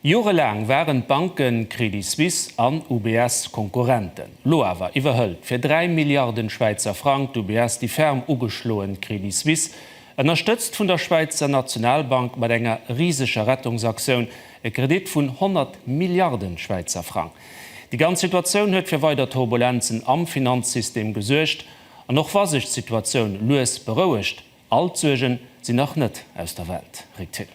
Jorelaang waren d'Banken Credit Suisse an UBS Konkurrenten. Lo awer iwwerhëlt fir 3 Milliarden Schwäizer Frang d'UBS déi ferm ugeschloen Credit Suisse. Ënnerstëtzt vun der Schwäizer Nationalbank mat enger riseger Rettungsaktioun, e Kredit vun 100 Milliarden Schwäizer Frang. Déi ganz Situatioun huet fir weider Turbulenzen am Finanzsystem gesuergt. An och wa sech d'Situatioun lues berouegt, all d'Suergen sinn nach net aus der Welt. Rick Thill.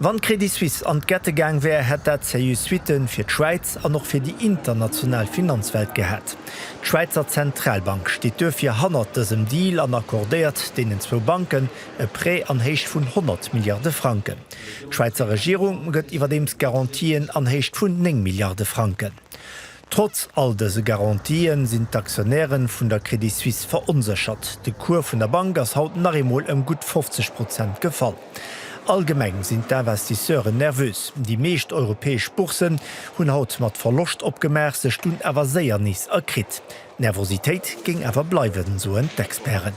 Wann d'Crédit Suisse an d'Gette gaang wär, hätt dat seriö Suitte fir d'Schwäiz an och fir déi international Finanzwelt gehat. D'Schwäizer Zentralbank steet duerfir hannert dësem Deal an accordéiert deenen zwou Banken e Prêt an Héicht vun 100 Milliarde Franken. D'Schwäizer Regierung gëtt iwwerdeems Garantien an Héicht vun 9 Milliarde Franken. Trotz all dëse Garantien sinn d'Aktionäre vun der Credit Suisse veronséchert. De Cours vun der Bank ass haut nach eemol ëm gutt 50 Prozent gefall. Allgemeng sinn d'Investisseuren nervös. Déi meescht europäesch Bourssen hunn haut mat Verloscht opgemaach, sech dunn awer séier nees erkritt. D'Nervositéit géing awer bleiwen, soen d'Experten.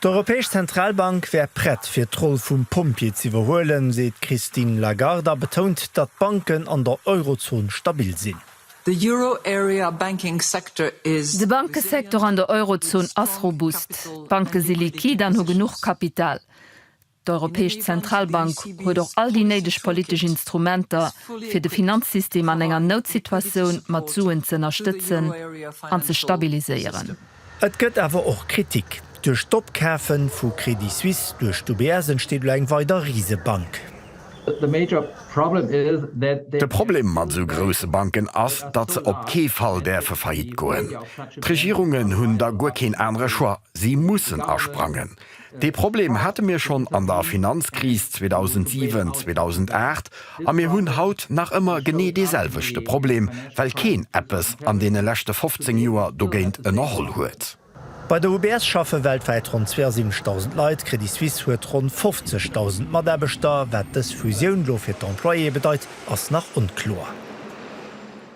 D'Europäesch Zentralbank wär prett, fir d'Roll vum Pompjee z'iwwerhuelen, seet d'Christine Lagarde a betount, datt d'Banken an der Eurozon stabil sinn. De Bankesektor an der Eurozon ass robust. D'Banke si liquid an hu genuch Kapital. D'Europäesch Zentralbank huet och all déi néideg politesch Instrumenter, fir de Finanzsystem an enger Noutsituatioun mat Suen z'ënnerstëtzen an ze stabiliséieren. Et gëtt awer och Kritik. Duerch d'Opkafe vu Crédit Suisse duerch d'UBS entsteet elo eng weider Risebank. De Problem mat esou grousse Banken ass, datt se op kee Fall däerfe faillite goen. D'Regierungen hunn da guer keen anere Choix, si mussen asprangen. Dee Problem hate mir schonn an der Finanzkris 2007, 2008 a mir hunn haut nach ëmmer genee deeselwechte Problem, well keen eppes an deene leschte 15 Joer dogéint ënnerholl huet. Bei der UBS schaffe weltwäit ronn 72.000 Leit, Credit Suisse huet ronn 50.000 Mataarbechter. Wat dës Fusioun elo fir d'Employéë bedeit, ass nach onkloer.